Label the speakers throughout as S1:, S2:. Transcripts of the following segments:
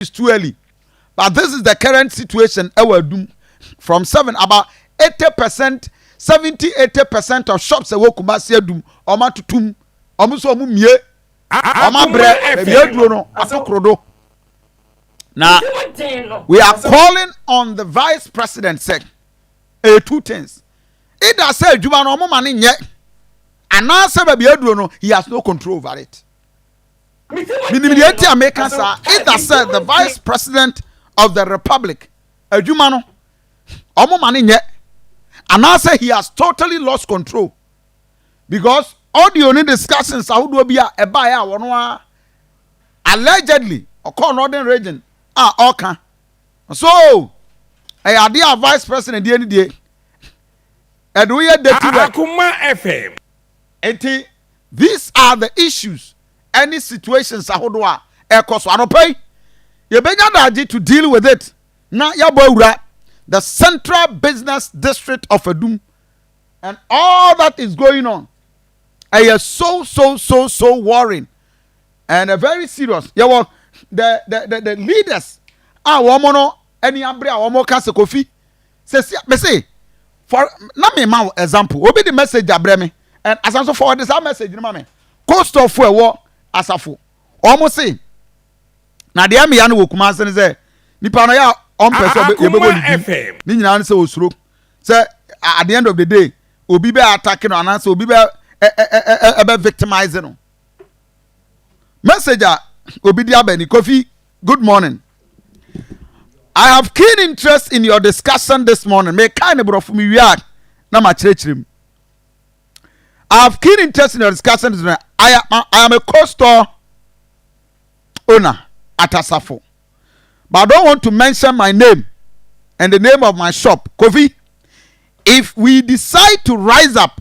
S1: is too early but this is the current situation ɛwɔ adum from seven about eighty percent seventy eighty percent of shops ɛwɔ kumasi adum wɔn atutum wɔn nso wɔn mie wɔn abrɛ baabi aduro no ato korodo na we are calling on the vice president sɛ ɛyɛ two things either sɛ adwuma no wɔn ma ne nyɛ anaasɛ baabi aduro no he has no control over it. Minim nea enti a meka saa. Either sɛ the vice president of the republic adwuma no wɔn ma no nyɛ anaasɛ he has totally lost control because audio ne discussions ahodoɔ bi a ɛbaeɛ a wɔn a allegedly ɔkɔɔ northern region a ɔka so ɛyɛ adeɛ a vice president deɛ ne deɛ ɛde woyɛ dirty work. Akoma
S2: FM. Enti these
S1: are the issues ɛne situations ahodoɔ a ɛrekɔ so. Anɔpa yi, yɛbɛnya daagye to deal with it na yɛabɔ awura the central business district of Adum and all that is going on. Ɛyɛ so so so so worrying and a very serious. Yɛwɔ the the the, the leaders a wɔn no ani abere a wɔn ka sɛ Kofi Sɛsi a mese for na me ma wo example obi de message abrɛ me and asan so forward saa message no ma me coastal fo ɛwɔ asafo wɔn se na deɛ mmea no wɔ kumase no sɛ nipa no yɛ a ɔmpɛ sɛ yɛbɛbɔ ne din ne nyinaa no sɛ osuro sɛ at the end of the day obi bɛ attack no anaasɛ obi bɛ ɛbɛ victimize no. message a obi de aba ni kofi good morning i have keen interest in your discussion this morning me kan ne borɔfo me wia na ma kyerɛkyerɛ mu i have keen interest in your discussion this morning i am, I am a co-store owner at asafo but i don't want to mention my name and the name of my shop kofi if we decide to rise up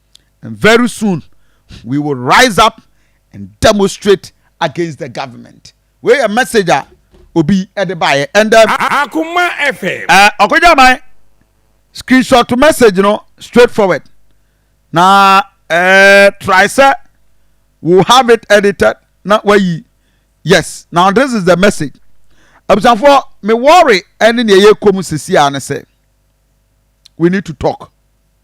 S1: and very soon we will rise up and demonstrate against the government wei yɛ message a obi ɛde baayɛ and um, akoma
S2: fm ɛɛ eh, ɔkɔgya man
S1: screenshot message no straight forward na ɛɛ eh, try sɛ we have it edited na wayi yes now this is the message abusanfoɔ me worry ɛne nea ɛyɛ kɔm sisi a ne sɛ we need to talk.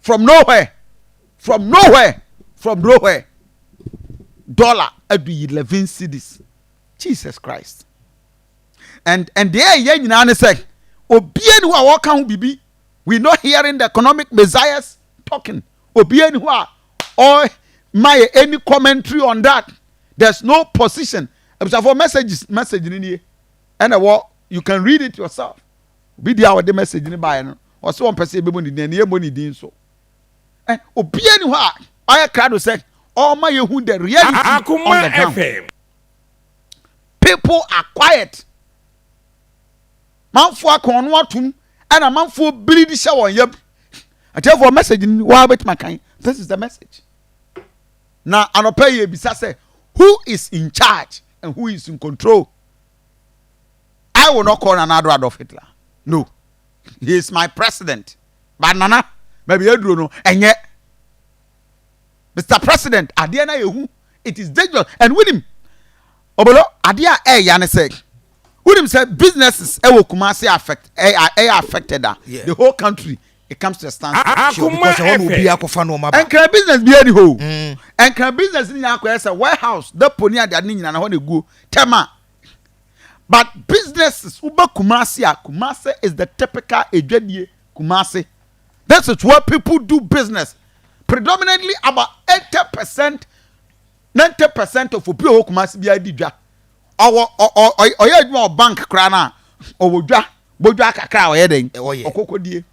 S1: from nowhere from nowhere from nowhere dollar adu eleven cities jesus christ and and deɛ ɛyɛ nyinaa ne sɛ obie ni hɔ a wɔka ho biribi we not hearing the economic messiahs talking obie ni hɔ a ɔma yɛ any commentary on that there's no position abusuafo messages message ni nie ɛna wɔ you can read it yourself Obi deɛ a ɔde message no baeɛ no, ɔsɛ wɔn pɛ sɛ yɛbɛbɔ ne din, ɛne yɛbɔ ne din so. Eh, obiara ni hɔ a ɔyɛ krado sɛ ɔma yɛhu the reality Akuma on the ground. FM. People are quiet. Manfoɔ aka ɔno atom ɛna manfoɔ biri de hyɛ wɔn yam. Atiefoɔ message ni waa bɛtuma kan. This is the message. Na anɔpɛ yɛ bisa sɛ who is in charge and who is in control. I will not call Nana Ado Adolf Hitler. No. He is my president. But Nana, baabi aduro no, ɛnyɛ. Mr. President, adeɛ na yɛhu. It is dangerous. And wonim, obolo, adeɛ a ɛya ne sɛ, wonim sɛ businesses ɛwɔ Kumasi affect, ɛyɛ affected a, the whole country It comes to a stand still because ɛhɔ na obiara
S2: akɔfa nneɛma ba. Nkran business biara
S1: ni hɔ o. Nkran business ni nyinaa akɔyɛ sɛ warehouse, depot ne adeade ne nyinaa na hɔ na eguo. Tɛma. But businesses woba Kumasi a, Kumasi is the typical edwadie Kumasi. This is where people do business. Predominantly about eighty percent ninety percent of obi a ɔwɔ kumase biara di dwa ɔwɔ ɔyɛ adwuma wɔ bank koraa no a ɔwɔ dwa bɔdwa kakra a ɔyɛ dɛn ɔkɔkɔdie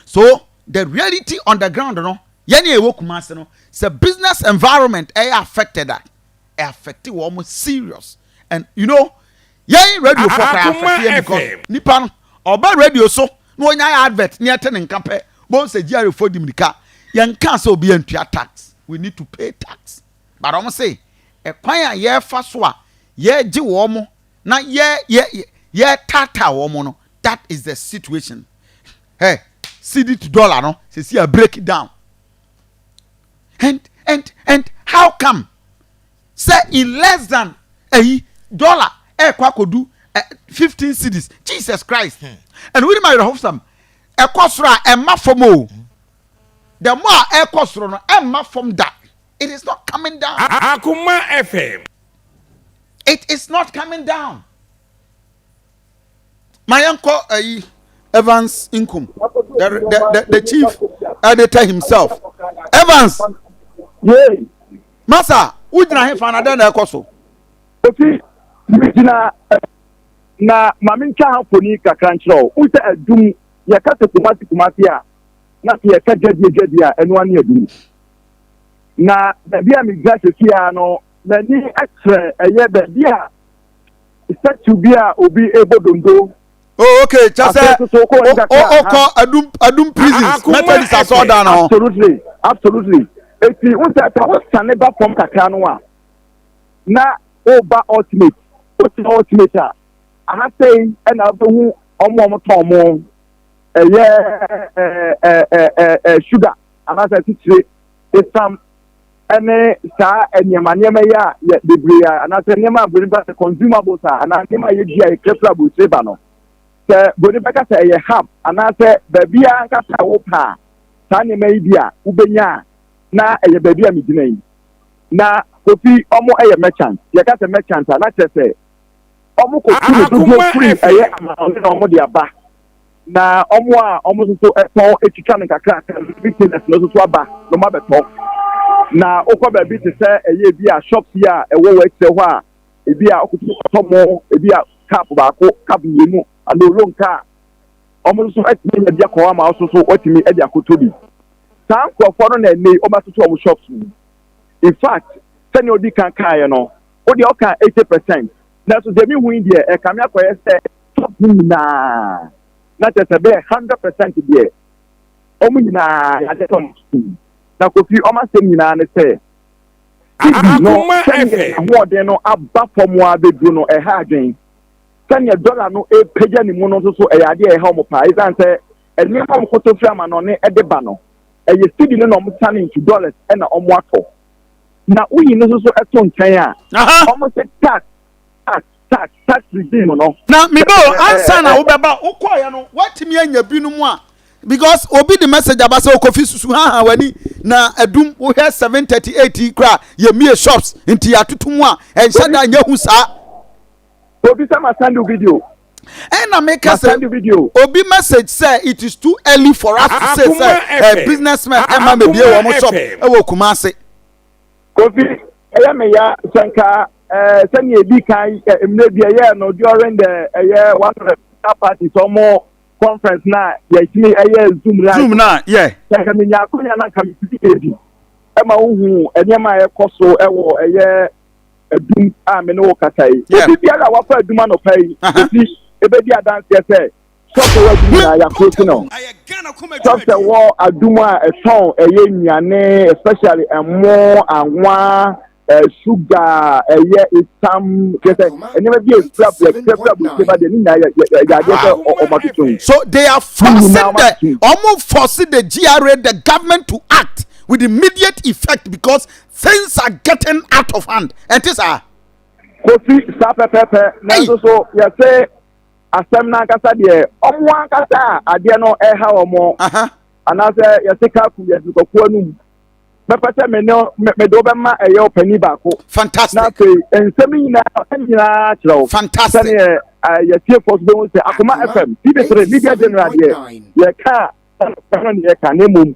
S1: so the reality on the ground no yɛne a ɛwɔ kumase no sɛ business environment ɛyɛ affected a ɛaffecte wɔn serious and you know Yɛn radio fo kɔ afɛfeɛ because nipa no ɔba radio so na onya advert na yɛte ne nka pɛ bohu sɛ GRA fo di mirika yɛn kaa sɛ obiara ntua tax we need to pay tax but wɔn se ɛkwan a yɛfa so a yɛgye wɔn na yɛ yɛ yɛ taataa wɔn no that is the situation hɛ cedi to dollar no sɛ si a break down and and and how come. Sɛ in less than ɛyi dollar ɛkɔ akɔdu ɛ fifteen cities Jesus Christ hmm. ɛna wuli ma yɛrɛ ho sam ɛkɔ soro a ɛma fam o hmm. the more a ɛkɔ soro no ɛma fam da it is not coming down. Akuma
S2: FM.
S1: It is not coming down. ma yɛnkɔ ayi evans nkum the, the, the, the chief editor himself evans
S3: masa
S1: wogyina hefa na dɛn na ɛkɔ so ofi
S3: megyina na ma mentwa ha mfoni kakra nkyerɛ wo wo sɛ adum yɛka sɛ kumase kumase a na sɛ yɛka gyadeɛ gyadeɛ a ɛno ane adum na baabi a megyina sɛsiaa no m'ani kyerɛ ɛyɛ baabi a statue bi a obi ɛbɔ donto. Oh, okay,
S1: kyɛ sɛ wokɔ adum prisons methodist asɔɔdan no ho. Absolutely, absolutely.
S3: Eti n sɛ sɛ wosane ba fam kakra no a na woba ultimate, wotena ultimate a aha sɛi ɛna wobɛhu ɔmo ɔmo tɔn mo ɛyɛ ɛɛ ɛɛ ɛɛ sugar anaasɛ titire esam ɛne saa nneɛma nneɛma yi a yɛ bebree a anaasɛ nneɛma a broni ba sɛ consumables a anaa nneɛma a yɛdi a yɛkura fira aburukyire ba no sɛ broni bɛka sɛ ɛyɛ hub anaasɛ baabi a ankasa a wopɛ a saa nneɛma yi bi a wobɛnya a na ɛyɛ baabi a megyina yi na kofi ɔmo ɛyɛ merchant yɛka sɛ merchant a na kyerɛ sɛ ɔmo kɔtu no dodoɔ firi ɛyɛ ama ɔne na ɔmo de aba na ɔmo a ɔmo nso so ɛtɔn etwitwa no kakrakra no retailers no nso so aba na ɔmo abɛtɔ na okɔ baabi te sɛ ɛyɛ ebi a shop bi a ɛwɔ wɔ akyire hɔ a ebi a ɔkutu ɔtɔ mo ebi a cup baako cup mmienu anaa olon kaa ɔmo nso so ɛtumi nya bi akɔ hɔ ama ɔso so ɔtumi ɛde akoto bi saa nkorɔfoɔ no na ɛnɛ yi ɔmo atoto ɔmo shops mu in fact sɛnea odi kan kaeɛ no ɔdeɛ ɔka eighty percent. Nanso deɛ mehu yi deɛ, ɛkame akɔyɛ sɛ Top no nyinaa, na kyerɛ sɛ bɛyɛ hundred percent deɛ, wɔn nyinaa yɛagye atom. Na Kofi, wɔn asɛm nyinaa ne sɛ, Cedi no sɛdeɛ n'ahoɔden no aba fam ara bɛduru no, ɛha adwene. Sɛdeɛ dɔla no repagya ne mu no nso so, ɛyɛ adeɛ a ɛha wɔn paa. Ɛsiane sɛ nneɛma a wɔkɔtɔ firi amanɔne de ba no, ɛyɛ cedi no na wɔsane ntu, dollars na wɔatɔ. na woyi no nso to nkyɛn a wɔn sɛ tax tax tax tax regime no. na mebe o ansa
S1: na wobɛba wokɔɔyɛ no woatumi anya binom a because obi de message aba sɛ okofi susu ha ha w'ani na adum wohwɛ seven thirty eight yi koraa yɛmie shops nti yɛatoto mu a ɛnhyɛ da nyɛ hu saa. Obi
S3: sɛ ma send you video. Ɛn na mi
S1: kɛ sɛ obi
S3: message sɛ
S1: it is too early for us to say sɛ ɛ businessmen ɛma mi bie wɔn shop ɛwɔ Kumasi. Kofi
S3: ɛyɛ mi ya sɛnka ɛɛ sɛni ebi kan ɛ mmerɛ bi ɛyɛ no during the ɛyɛ one of the parties ɔmo conference na yɛtumi ɛyɛ zoom na. Zoom na yɛ. Sɛnka
S1: mi nya akonya
S3: na nka mi ti ebi ɛma ohun nneɛma a ɛkɔ so ɛwɔ ɛyɛ. adum a me ne wo kasa yi obi biara a wafa adum anɔpa yi ɛsi ɛbɛdi adanseɛ sɛ sɔfɛ wɔ adum nyinaa yɛakoro si no sɔfɛ wɔ adum a ɛtɔn ɛyɛ nnuane especially ɛmo anwa suga ɛyɛ esam kyɛ sɛ nneɛma bi ɛfira brɛfirafira burukyɛ ba deɛ ne nyinaa yɛadeɛ sɛ ɔmatotom so they are
S1: forcing the ɔmo force the GRA the government to act with immediate effect because things are getting out of hand ɛnte saa. kofi
S3: saa pɛpɛpɛ nanso so yɛsɛ asɛm n'ankasa deɛ ɔmo ankasa a adeɛ no ɛha ɔmo anaasɛ yɛsɛ kaku yɛ dukakuo no mu mɛpɛ sɛ me ne me de wobɛma ɛyɛ ɔpanin baako fantastic na afei
S1: nsɛm
S3: nyinaa nyinaa kyerɛ wo fantastic sɛdeɛ
S1: yɛtiefoɔ
S3: so bɛhu sɛ akoma fm tv3 media general deɛ yɛka ɛno ne yɛka na mmom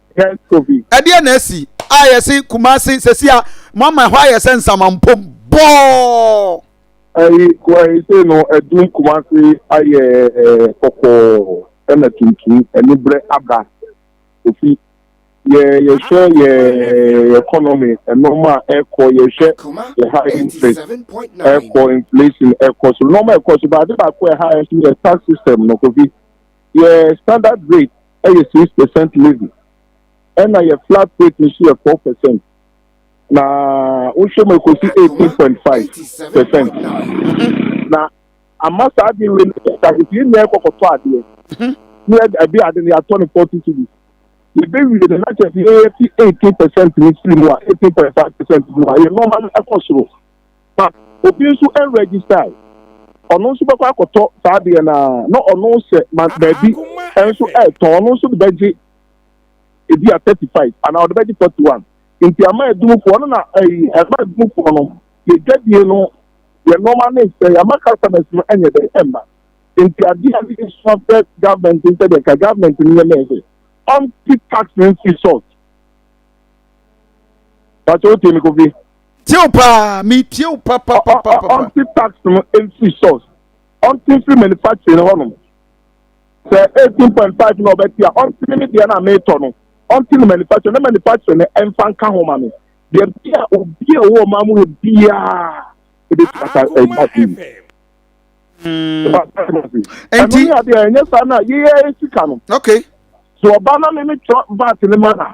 S3: ɛdeɛ na asi
S1: a yɛse kumase sɛsi a mama ɛhɔ ayɛ sɛ nsamampom bɔɔ ayi
S3: kuahese no adum kumase ayɛ kɔkɔɔ ɛna tuntum anibrɛ aba ofi yɛ yɛhwɛ yɛ economy ɛnɔma a ɛkɔ yɛhwɛ yɛ high interest ɛkɔ inflation ɛkɔ so nɔma ɛkɔ so baade baako ɛha ɛso yɛ tax system no kofi yɛ standard rate yɛ six percent levy ɛna yɛ flat rate nso yɛ four percent na wohwɛ mu ekosi eighteen point five percent na ama saa adi wei no yɛ ta efi nnua kɔkɔtɔ adeɛ ne yɛ ɛbi ade no yɛatɔ no forty cities yɛbɛ wie no n'akyɛ fi yɛ fi eighteen percent ne siri mu a eighteen point five percent mu a yɛ nɔɔma no ɛkɔ soro. ma obi nso registae. Ɔno nso bɛkɔ akɔtɔ saa adeɛ no ara na ɔno sɛ ma baabi nso retɔn ɔno nso de bɛgye ebi a thirty five anaa ɔde bɛgye forty one nti ama adumufoɔ no na ɛyi ɛma adumufoɔ no yɛ dwadie no yɛ nneɛma no nsɛ ama customers no ɛnyɛ dɛ ɛmma nti adeɛ a ne yɛ sua fɛ government nsɛ deɛ nka government no yɛ mɛɛsɛ ɔnti tax no nsi salt. That's all, Timmy Kofi. tie wo paa mi
S1: tie wo pa pa pa pa pa. ɔnte
S3: tax no mfiri source ɔnte mfiri manufacturing no hɔnom sɛ eighteen point five na ɔbɛte a ɔnte ne me deɛ no a meretɔ no ɔnte ne manufacturing na manufacturing no ɛmfa nka ho ma me deɛ bi a obi a ɔwɔ ɔman mu hɔ biara ebetumi asa ɛgba fi mu.
S1: ɛno ne adeɛ ɛnyɛ saa na yeyɛ sika no. okay. so
S3: ɔba na me me tɔ vat ne ma na.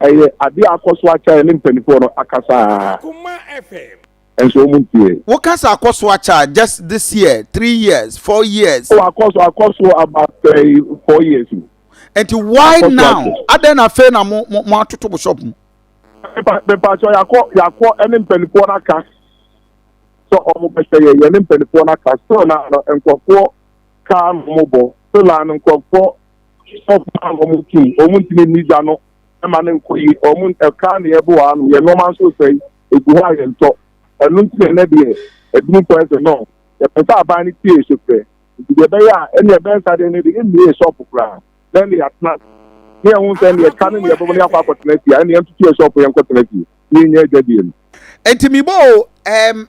S3: Ɛyɛ adeɛ a akɔ so akyɛ a yɛne mpaninfoɔ no akasa a
S2: nso wɔn ntie.
S3: Wo kasa akɔ
S1: so akyɛ a just this year, three years, four years. Oh akɔ so akɔ
S3: so about eh, four years mu. Nti why
S1: now? Adɛn na afei na mo mo mo atoto mo shop mu?
S3: Mepakyɛ yakɔ yakɔ ɛne mpaninfoɔ no aka sɛ wɔn bɛhyɛ yɛ yɛne mpaninfoɔ no aka still na nkurɔfoɔ kaa no wɔn bɔ still na nkurɔfoɔ. ɔfa a wɔn nti wɔn ntumi nni gya no ma no nkɔ yi wɔn ɛka na yɛbo wɔ ano yɛ nneɛma nso sɛ egu hɔ a yɛntɔ ɛno nti na ɛnɛ deɛ ɛdini kɔ ɛsɛ no yɛpɛ sɛ aban no tie so fɛ nti deɛ ɛbɛyɛ a ɛne ɛbɛnsa deɛ ne de mmie shop koraa na ɛne yɛatena ne yɛn ho sɛ ne yɛka ne ne yɛbɛbɔ ne akɔ akɔtena fie ɛne yɛn tutu yɛ shop yɛn kɔtena fie ne yɛn nyɛ adwadie no. Nti mibɔ
S1: o ɛɛm. Um...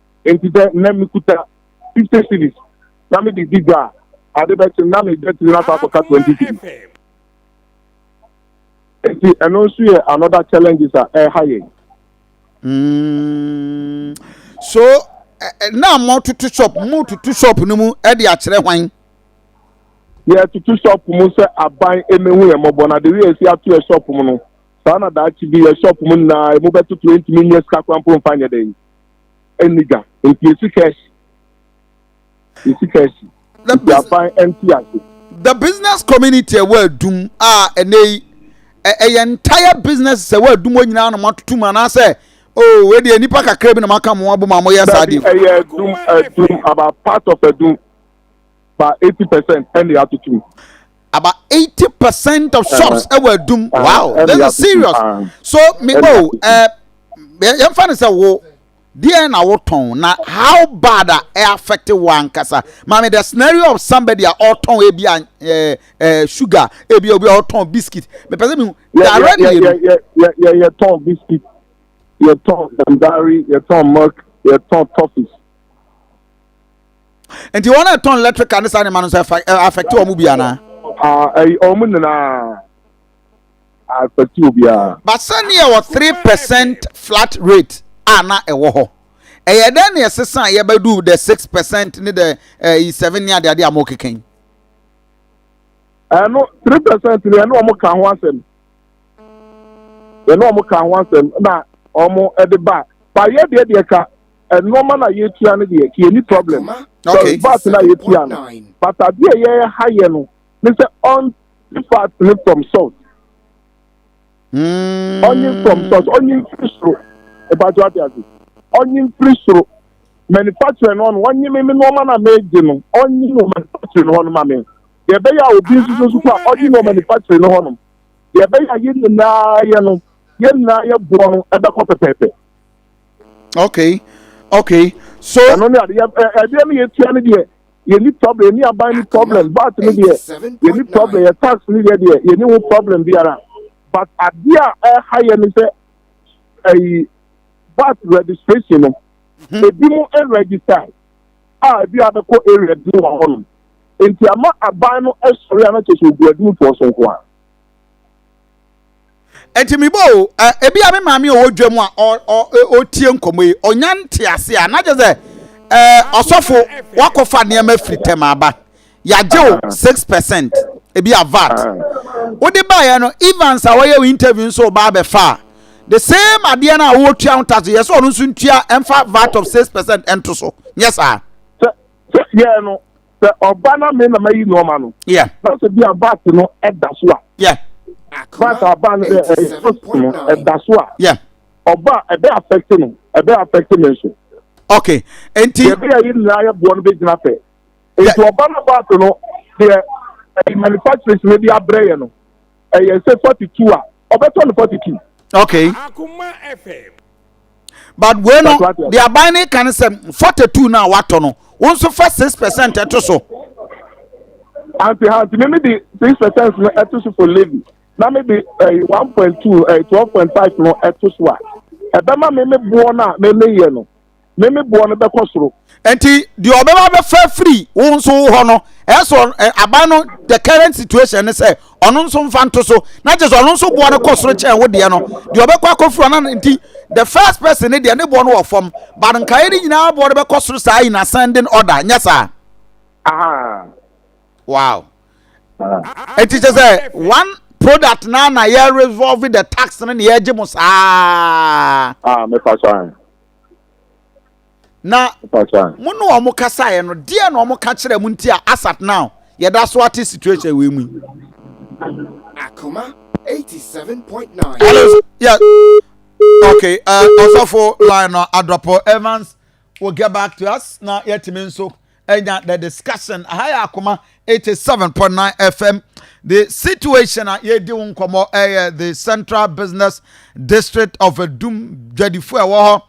S3: Enti sɛ nnɛ mekuta fifty cedis na mede di dwa a, ade bɛkye no na me dwatiri no akɔ akɔka twenty cedis. Enti ɛno nso yɛ another challenges a ɛreha yɛn. Mm.
S1: So, na mo tutu shop, mo tutu shop no mu de akyerɛ hwan?
S3: Yɛ tutu shop mu sɛ aban emehu yɛ mɔbɔ na de wi esi ato yɛ shop mu no. Saa na daakye bi yɛ shop mu nyinaa emu bɛtoto entumi nyɛ sika kora mpo mfa nyɛ dɛ. ɛnni dwa nti yɛsi ka asi yɛsi ka asi nti aban ɛnti ase.
S1: the business community ɛwɔ adum a ɛnɛ yi ɛyɛ entire business sɛ ɛwɔ adum hɔ nyinaa na wɔn atutu mu anaasɛ oo oh, ɛdeɛ nipa kakra bi na wɔn aka wɔn abom a wɔyɛ saa deɛ. ɛyɛ adum adum
S3: about part of adum. ba eighty percent ɛna atutu mu. about
S1: eighty percent of shops ɛwɔ eh, adum eh, wow eh, this is serious ah. so me oh ɛɛ yɛn fa ne sɛ wo deɛ na wotɔn na how bad a ɛ affect wo ankasa maame the scenario of somebody a ɔtɔn ebi a ɛɛ ɛɛ sugar ebi obi a ɔtɔn biscuit mepɛ sɛ mi direct yɛ no. yɛ yɛ
S3: yɛ yɛ tɔn biscuit yɛ tɔn dandari yɛ tɔn milk yɛ tɔn toffees.
S1: nti wɔn a ɛtɔn electrical ne saa nneɛma no nso ɛfa ɛ affect wɔn bi anaa. Ah, ɛyi wɔn
S3: nyinaa afɛti obiara. but sani ɛwɔ
S1: three percent flat rate a na ɛwɔ hɔ ɛyɛ dɛ na ɛsesa a yɛbɛdu the six percent ne the ɛyi seven ne adeade a mo keka yi.
S3: ɛno three percent ni ɛno wɔn ka ho asɛm ɛno wɔn ka ho asɛm na wɔn de ba ba yɛ deɛ deɛ ka nneɛma na yɛtua no deɛ kì yɛni problem sorry vat na
S1: yɛtua no
S3: but adeɛ yɛyɛ ha yɛ no ne sɛ ɔnye vat ne from salt hmm. ɔnye from salt ɔnye mfiri soro ɛbàtò adi adi ɔnye mfiri soro manufacturer no ɔno ɔnye mímí nneɛma na mɛgye no ɔnye no manufacturer no ɔno ma mi deɛ ɛbɛyɛ a obi nso so kɔ a ɔnye no manufacturer no ɔno deɛ ɛbɛyɛ a yɛn nyinaa yɛ no yɛn nyinaa yɛ boɔ no ɛbɛkɔ pɛpɛɛpɛ. okay
S1: okay so. ɛno ne ade yɛ
S3: ɛdeɛ no yɛtua no deɛ yɛni problem yɛni aban ni problem bat no deɛ yɛni problem yɛ tax no deɛ deɛ yɛni ho problem biara but adeɛ a ɛha yɛ no sɛ ɛyi bat registration no mhm. ebi mu register a ebi abɛkɔ area bi wɔ hɔ nom nti ama aban no sɔre a na kyerɛ sɛ ogu adumfoɔ so nko a.
S1: nti mebɔ o ebi a me maame ɔwɔ dwa mu a ɔtie nkɔmɔ yi ɔnya nte ase a na kyerɛ sɛ ɛɛ ɔsɔfo wakɔfa nneɛma firi tɛm aba yagye o ah. six percent ebi a vat ah. wode baeɛ no evans a wɔyɛ wo interview nso ɔba abɛfa a the same adeɛ no a wɔtua ho tax yɛ sɛ ɔno nso ntua ɛmfa vat of six percent ɛnto so nyɛ saa. sɛ sɛ yɛ
S3: no. sɛ ɔba na me na mayi no ama no na sɛ bi a
S1: bat
S3: no ɛda so a
S1: bat a
S3: ɔba no dɛ ɛfos no ɛda so a ɔba a
S1: ɛbɛ
S3: affect no ɛbɛ affect me nso. ok
S1: nti. yɛbɛ yɛ yi nyinaa yɛ
S3: boɔ no bɛ gyina pɛ nti ɔba no bat no deɛ ɛyɛ manufacturers no de abrɛ yɛ no. ɛyɛ sɛ forty two a ɔbɛtɔ no forty two. okay
S2: but
S1: wei no de aban ne ka ne sɛ forty two na watɔ no wɔn nso fa six percent ɛto so.
S3: anti ha nti mímí di six percent no ɛto so for levy na mi di ɛyi eh, one point two ɛyi eh, twelve point five no ɛto so a ɛbɛma mímí boɔ no a mímí yɛ no me me boɔ no bɛkɔ soro. nti deɛ
S1: ɔbɛba bɛfa firi wo nso wo hɔ no ɛsɔ aban no the current situation ne sɛ ɔno nso mfa nto so na kyerɛ sɛ ɔno nso boɔ no kɔ soro kyɛn wo deɛ no deɛ ɔbɛkɔ akɔfiri ɔno no nti the first person ne deɛ ne boɔ no wɔ fam but nkaeɛ no nyinaa boɔ no bɛkɔ soro saa in ascending order nyɛ saa Aha. wow Ah. nti kyerɛ sɛ one product na na yɛ resolve the tax no na yɛgye mo saa Ah, me fa so. na mo ne wɔn kasaeɛ no deɛ na wɔn ka kyerɛ mo nti a asat now yɛda so ate situation wei mu yi.
S2: akoma eighty seven point nine. hello
S1: yeah okay uh, ɔsɔfo line no adɔpɔ evans will get back to us na yɛtumi nso ɛnya the discussion aha yɛ akoma eighty seven point nine fm the situation a yɛdi ho nkɔmɔ ɛyɛ the central business district of edum dwadifo a ɛwɔ hɔ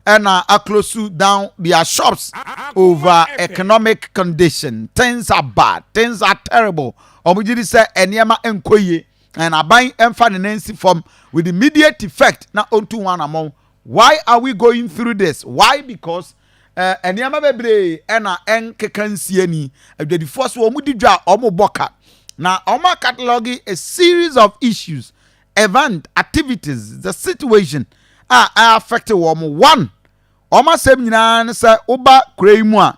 S1: ɛna aklosu down their shops over economic condition things are bad things are terrible wɔn gyi di sɛ nneɛma nkɔ yie and aban mfa ne nan si fam with immediate effect na ɔntu ho anamɔn why are we going through this why because Nneɛma bebree na ɛnkeka nsi ani. Adwadifoɔ so wɔdi dwa a wɔbɔ ka na wɔn a catalogue a series of issues, event, activities, the situation a ɛyɛ affect wɔn. One, wɔn asɛm nyinaa ne sɛ woba kura yi mu a,